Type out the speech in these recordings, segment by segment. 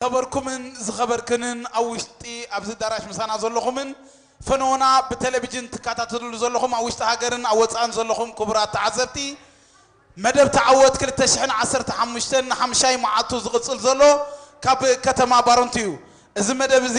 ዝከበርኩምን ዝኸበርክንን ኣብ ውሽጢ ኣብዚ ኣዳራሽ ምሳና ዘለኹምን ፈነወና ብቴሌቪጅን ትከታተልሉ ዘለኹም ኣብ ውሽጢ ሃገርን ኣብ ወጻእን ዘለኹም ክቡራት ተዓዘብቲ መደብ ተዓወት ክልተ ሽሕን ዓሰርተ ሓሙሽተን ንሓምሻይ መዓልቱ ዝቕጽል ዘሎ ካብ ከተማ ባረንቱ'ዩ እዚ መደብ እዚ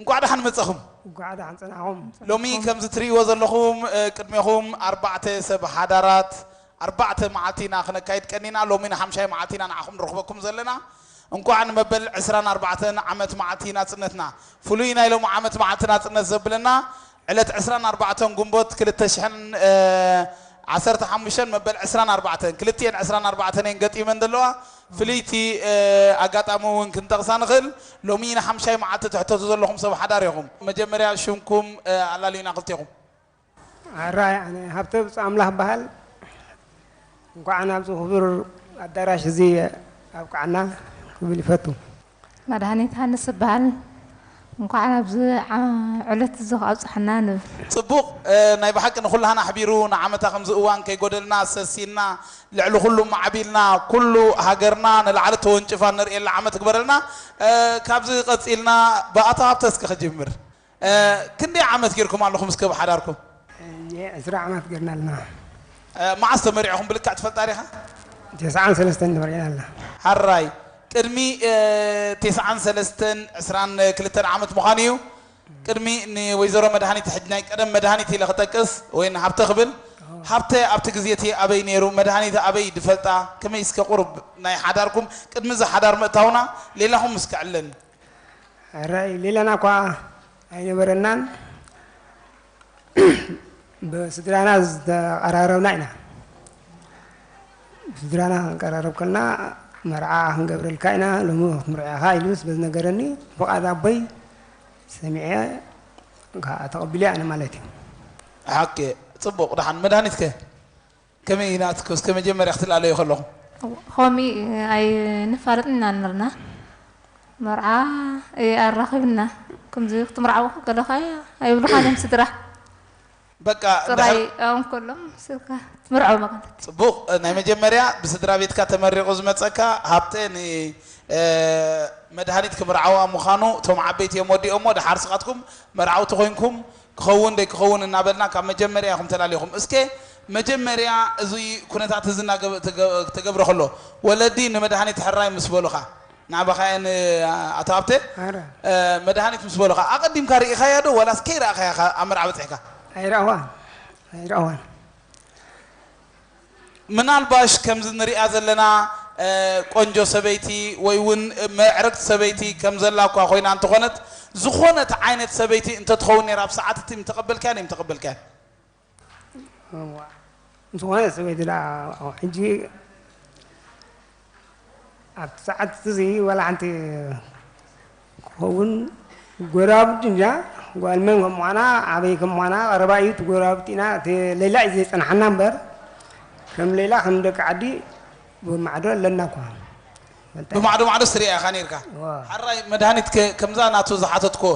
እንኳዕ ደሓን መጻኹም እንኳዕ ደሓን ጸናሕኹም ሎሚ ከምዚ ትርእይዎ ዘለኹም ቅድሜኹም ኣርባዕተ ሰብ ሓዳራት ኣርባዕተ መዓልቲ ኢና ክነካይድ ቀኒና ሎሚ ንሓምሻይ መዓልቲ ኢና ንዓኹም ንረኽበኩም ዘለና እንኳዕ ንመበል 24 ዓመት መዓልቲ ናጽነትና ፍሉይ ናይ ሎሚ ዓመት መዓልቲ ናጽነት ዘብለና ዕለት ዕስራን ኣርባዕተን ግንቦት ክልተ ሽሕን ዓሰርተ ሓሙሽተን መበል ዕስራን ኣርባዕተን፣ ክልቲኤን ዕስራን ኣርባዕተን እየን ገጢመን ዘለዋ። ፍልይቲ ኣጋጣሚ እውን ክንጠቕሳ ንኽእል። ሎሚ ንሓምሻይ መዓልቲ ትሕተቱ ዘለኹም ሰብ ሓዳር ኢኹም። መጀመርያ ሽምኩም ኣላልዩና ክልቴኹም። ኣራይ ኣነ ሃብተ ብጹእ ኣምላኽ እበሃል። እንኳዕ ናብዚ ክቡር ኣዳራሽ እዚ ኣብቃዓና ክብል ይፈቱ። መድሃኒት ሃንስ እባሃል እንኳዕ ናብዚ ዕለት እዚ ኣብፀሐና ንብል። ጽቡቅ ናይ ብሓቂ ንኩላህና ኣሕቢሩ ንዓመታ ከምዚ እዋን ከይጎደልና ሰሲንና ልዕሊ ኩሉ ማዕቢልና ኩሉ ሃገርና ንላዕሊ ተወንጭፋ እንርእየላ ዓመት ይግበረልና ካብዚ ቀጺልና ብኣቶ ሃብተ እስኪ ክጅምር ክንደይ ዓመት ጌርኩም ኣለኹም እስከ ብ ሓዳርኩም? እየ ዕስራ ዓመት ጌርና ኣለና። መዓስ ተመሪዕኹም ብልክዕ ትፈልጣ ዲኻ? ቴስዓን ሰለስተን ተመሪዕና ኣለና። ሐራይ ቅድሚ ቴስዓን ሰለስተን ዕስራን ክልተን ዓመት ምዃኑ እዩ። ቅድሚ ንወይዘሮ መድሃኒት ሕጅ ናይ ቀደም መድሃኒት ኢለ ክጠቅስ ወይ ንሃብተ ክብል ሃብተ ኣብቲ ግዜ እቲ ኣበይ ነይሩ መድሃኒት ኣበይ ድፈልጣ ከመይ እስከ ቁሩብ ናይ ሓዳርኩም ቅድሚ እዚ ሓዳር ምእታውና ሌላኹም እስከ ዕለኒ። ራእይ ሌላና እኳ ኣይነበረናን ብስድራና ዝተቀራረብና ኢና ብስድራና ክንቀራረብ ከልና መርዓ ክንገብረልካ ኢና ሎሚ ክትምርዕኻ ኢሉ ስለ ዝነገረኒ ፍቓድ ኣቦይ ሰሚዐ ከዓ ተቐቢለ ኣነ ማለት እዩ ሓቂ ፅቡቕ ደሓን መድሃኒት ከ ከመይ ኢና እስከ እስከ መጀመርያ ክትላለዩ ከለኹም። ኾሚ ኣይንፋለጥን ኢና ነርና መርዓ እይ ኣራኺብና ክምዚ ክትምርዓው ከለኻ ኣይብሉኻን እዮም ስድራ በቃ ጥራይ እንድሕር ኣብኦም ከሎም ስልካ ትምርዓው መቐነት ጽቡቕ ናይ መጀመርያ ብስድራ ቤትካ ተመሪቑ ዝመጸካ ሃብተ ን እ፣ መድሃኒት ክምርዓዋ ምዃኑ እቶም ዓበይቲ እዮም ወዲኦሞ ደሓር ስኻትኩም መርዓውቲ ኮይንኩም ክኸውን ደይክኸውን እናበልና ካብ መጀመርያ ኢኹም ተላሊኹም እስከ መጀመርያ እዙይ ኩነታት እዝ እናተገብረ ከሎ ወለዲ ንመድሃኒት ሕራይ ምስ በሉኻ ናዕባኻየ ን ኣቶ ሃብተ መድሃኒት ምስ በሉኻ ኣቐዲምካ ርኢኻያ ዶ ዋላስ ከይረኣኻያ ኢኻ ኣብ መርዓ በፂሕካ? ኣይረኣዋን ኣይረኣዋን ምናልባሽ ከምዚ ንሪኣ ዘለና ቆንጆ ሰበይቲ ወይ ውን ምዕርግቲ ሰበይቲ ከም ዘላ እኳ ኮይና እንተኾነት ዝኾነት ዓይነት ሰበይቲ እንተትኸውን ነይራ ኣብ ሰዓት እቲ ምተቐበልካያን እይምተቐበልካያን? ዝኾነት ሰበይቲ ድኣ ሕጂ ኣብቲ ሰዓት'ዚ ዋላ ሓንቲ ክትኸውን ጎረባብቲ እንጃ ጓል መን ከም ምዃና ኣበይ ከም ምዃና ቀረባ እዩ እቲ ጎረባብቲና እቲ ሌላ እዩ ዘየጸንሓና እምበር ከም ሌላ ከም ደቂ ዓዲ ብማዕዶ ኣለና እኳ ፈልጣ እየ። ብማዕዶ ማዕዶስ ትርእያ ኢኻ ኔርካ። እወ። ሐራይ መድሃኒትከ ከምዛ ናቱ ዝሓተትኩዎ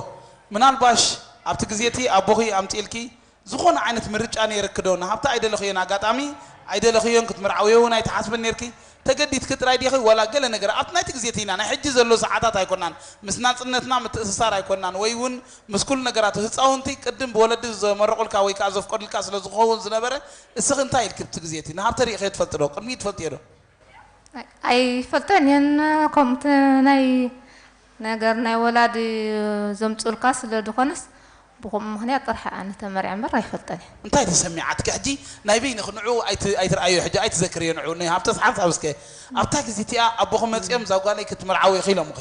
ምናልባሽ ኣብቲ ግዜ'ቲ ኣቦኺ ኣምጺእልኪ ዝኾነ ዓይነት ምርጫ ኔርኪ'ዶ? ንሃብታ ኣይደለኽዮን ኣጋጣሚ ኣይደለኽዮን፣ ክትምርዓውዮ ውን ኣይትሓስብን ኔርኪ፣ ተገዲድኪ ጥራይ ዲኺ ወላ ገለ ነገር ኣብቲ ናይቲ ግዜ ቲና ናይ ሕጂ ዘሎ ሰዓታት ኣይኮናን ምስ ናጽነትና ምትእስሳር ኣይኮናን ወይ ውን ምስ ኩሉ ነገራቱ ህጻውንቲ ቅድም ብወለዲ ዘመርቑልካ ወይ ከኣ ዘፍቀዱልካ ስለ ዝኸውን ዝነበረ እስኺ እንታይ ኢልኪ ብቲ ግዜ'ቲ ንሃብተ ሪኢኽዮ ትፈልጢ'ዶ ቅድሚኡ ትፈልጥዮ'ዶ ኣይፈልጠን እየን ከምኡ እቲ ናይ ነገር ናይ ወላዲ ዘምጹልካ ስለ ድኮነስ ብከምኡ ምክንያት ጥራሕ እየ ኣነ ተመርዕየ እምበር ኣይፈልጠን እየ። እንታይ ተሰሚዓትኪ ሕጂ ናይ በይንኪ ንዑ ኣይትርኣይዮ ሕጂ ኣይትዘክርዮ ንዑ ን ሃብተስ ሓንሳብ እስከ ኣብታ ግዜ እቲኣ ኣቦኪ መጺኦም እዛ ጓለይ ክትምርዓዊ ኢኪ ኢሎምኪ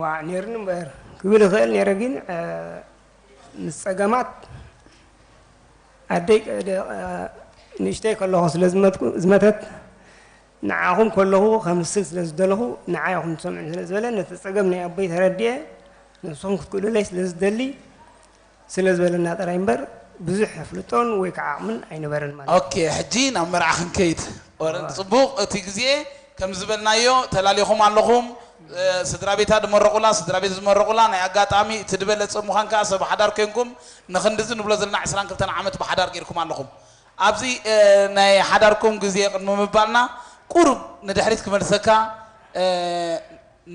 ዋእ ኔሩኒ እምበር ክብል ይኽእል ኔረ ግን ምስ ጸገማት ኣደይ ንእሽተይ ከለኹ ስለ ዝመተት ንዓኹም ከለኹ ከምስል ስለ ዝደለኹ ንዓይ ኢኹም ትሰምዑኒ ስለ ዝበለ ነቲ ጸገም ናይ ኣቦይ ተረዲኤ ንስኹም ክትክእሉለይ ስለ ዝደሊ ስለ ዝበለና ጥራይ እምበር ብዙሕ ኣፍልጦን ወይ ከዓ ዓቕምን ኣይነበረን ማለት እዩ። ኦኬ ሕጂ ናብ መርዓ ክንከይድ ኦረንት ጽቡቅ እቲ ግዜ ከም ዝበልናዮ ተላሊኩም ኣለኹም ስድራቤታ ድመረቁላ ስድራቤት ዝመረቁላ ናይ ኣጋጣሚ እቲ ድበለጸ ምዃን ከኣ ሰብ ሓዳር ኮንኩም ንክንድዚ ንብሎ ዘለና ዕስራን ክልተን ዓመት ብሓዳር ጌርኩም ኣለኹም ኣብዚ ናይ ሓዳርኩም ግዜ ቅድሚ ምባልና ቁሩብ ንድሕሪት ክመልሰካ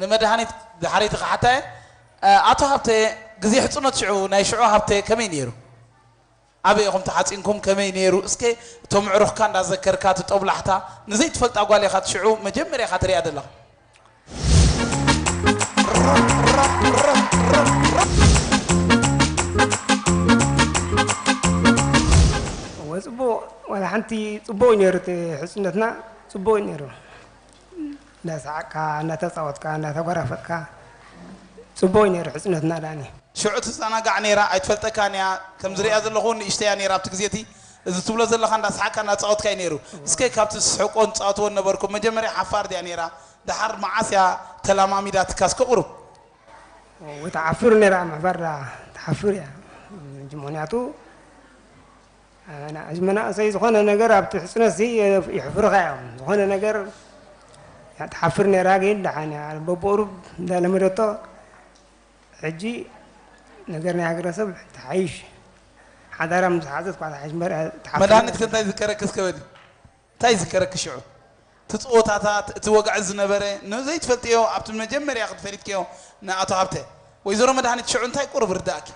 ንመድሃኒት ድሓረይቲ ክሓታ እየ ኣቶ ሃብተ ግዜ ሕጽኖት ሽዑ ናይ ሽዑ ሃብተ ከመይ ኔሩ ኣበይ ኢኹም ተሓጺንኩም ከመይ ኔሩ እስከ እቶም ኣዕሩኽካ እንዳ ዘከርካ እቲ ጦብላሕታ ንዘይ ትፈልጣ ጓል ኢኻ እቲ ሽዑ መጀመርያ ኢኻ ትሪኣ ዘለኻ። እወ ጽቡቕ ዋላ ሓንቲ ጽቡቕ እዩ ኔሩ እቲ ሕጽነትና ጽቡቕ እዩ ኔሩ። እንዳሳዓቅካ እንዳተጻወትካ እንዳተጓራፈጥካ ጽቡቅ እዩ ነይሩ ሕጽነትና ዳኒ። ሽዑ ትዛናጋዕ ነይራ ኣይትፈልጠካን እያ ከምዚ ሪኣ ዘለኩ ውን ንእሽተይ እያ ነይራ ኣብቲ ግዜ እቲ እዚ ትብሎ ዘለካ እንዳሳሓቅካ እንዳጻወትካ እዩ ነይሩ እስከ ካብቲ ትስሕቆን ትጻወትዎን ነበርኩም መጀመርያ ሓፋር ድያ ነይራ ዳሓር ማዓስ እያ ተላማሚዳትካ እስከ ቁሩብ ትሓፍር ነይራ ምሕፋር ድኣ ትሓፍር እያ ምክንያቱ። ኣና ሕዚ መናእሰይ ዝኾነ ነገር ኣብቲ ሕጽነት ሲ ይሕፍርኻ እዮም ዝኾነ ነገር ትሓፍር ነራ ግን ደሓን እያ በብቁሩብ እንዳለመደቶ ሕጂ ነገር ናይ ሃገረሰብ ተሓይሽ ሓዳራ ምስ ሓዘት ኳ ተሓይሽ መድሃኒት ክንታይ ዝከረክስ ከበዲ እንታይ ይዝከረኪ ሽዑ እቲ ጸወታታት እቲ ወግዒ ዝነበረ ንዘይትፈልጥዮ ኣብቲ መጀመርያ ክዲ ፈሊጥክዮ ንኣቶ ሃብተ። ወይዘሮ መድሃኒት ሽዑ እንታይ ቁሩብ ርደኣኪ?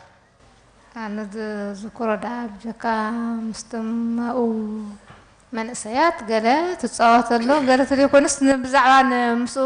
ኣነ ዝዝክሮ ደኣ ብጀካ ምስቲ ማኡ መንእሰያት ገለ ትጻወት ኣሎ ገለ ትብል ኮይኑስ ብዛዕባ ምስኡ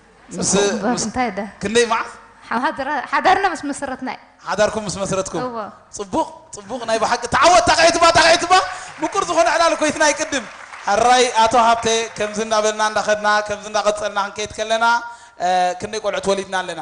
ምስ ጽቡቅ እበር ምስ እንታይ ደ ክንደይ ማዕ ሓማድራ ሓዳርና ምስ መሰረትና እዩ። ሓዳርኩም ምስ መስረትኩም እወ። ጽቡቅ ጽቡቅ ናይ ብሓቂ ተዓወት ጣቂዒትባ ጣቂዒትባ ምቁር ዝኮነ ዕላል እኮ ኢትና ይቅድም ሕራይ ኣቶ ሃብተ ከምዚ እንዳ በልና እንዳ ከድና ከምዚ እንዳ ቀጸልና ክንከይድ ከለና ክንደይ ቆልዑት ወሊድና ኣለና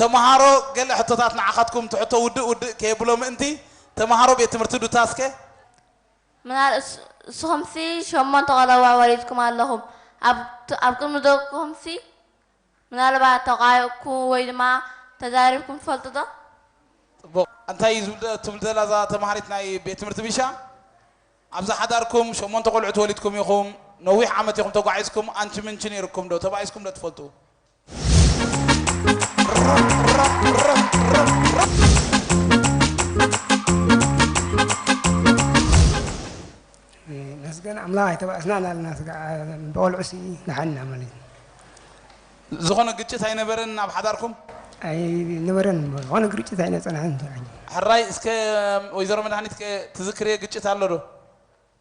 ተመሃሮ ገለ ሕቶታት ንዓኻትኩም ትሕቶ ውድእ ውድእ ከየብሎ ምእንቲ፣ ተመሃሮ ቤት ትምህርቲ ዱታስ ከ? ምናል እስኹምሲ ሸሞንተ ቆልዑ ወሊድኩም ኣለኹም፣ ኣብ ቅድሚ ደቅኹምሲ ምናልባት ተቛይቕኩም ወይ ድማ ተዛሪብኩም ትፈልጡ ዶ? ጽቡቕ፣ እንታይ እዩ ዝብል ትብል ዘላ እዛ ተመሃሪት ናይ ቤት ትምህርቲ ቢሻ? ኣብዚ ሓዳርኩም ሸሞንተ ቆልዑት ወሊድኩም ኢኹም፣ ነዊሕ ዓመት ኢኹም ተጓዒዝኩም፣ ኣንቺ ምንቺ ነይሩኩም ዶ? ተባኢስኩም ዶ ትፈልጡ? ነስገን ኣምላኽ ኣይተባእስናን ኣለና ብቆልዑ ሲ ንሓና ማለት እዩ ዝኾነ ግጭት ኣይነበረን ኣብ ሓዳርኩም ኣይነበረን ዝኾነ ግርጭት ኣይነፀናሕን ሕራይ እስከ ወይዘሮ መድሃኒት ትዝክርየ ግጭት ኣሎ ዶ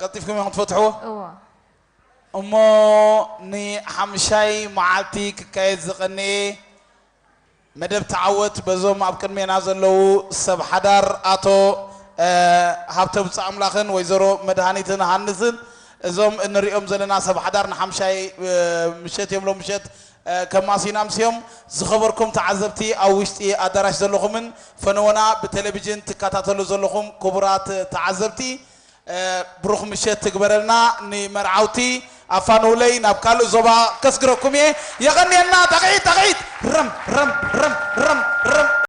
ቀልጢፍኩም ኢኹም ትፈትሕዎ እዎ እሞ ንሓምሻይ መዓልቲ ክካየድ ዝቐነየ መደብ ተዓወት በዞም ኣብ ቅድሜና ዘለዉ ሰብ ሓዳር ኣቶ ሃብተ ብፁዓምላኽን ወይዘሮ መድሃኒትን ሃንስን እዞም እንሪኦም ዘለና ሰብ ሓዳር ንሓምሻይ ምሸት እዮም ሎም ምሸት ከማሲና ኣምስዮም ዝኸበርኩም ተዓዘብቲ ኣብ ውሽጢ ኣዳራሽ ዘለኹምን ፈነወና ብቴሌቪዥን ትከታተሉ ዘለኹም ክቡራት ተዓዘብቲ ብሩኽ ምሸት ትግበረልና ንመርዓውቲ ኣፋንውለይ ናብ ካልእ ዞባ ከስግረኩም እየ የቐንየልና ጣቕዒት ጣቕዒት ረም ረም ረም ረም ረም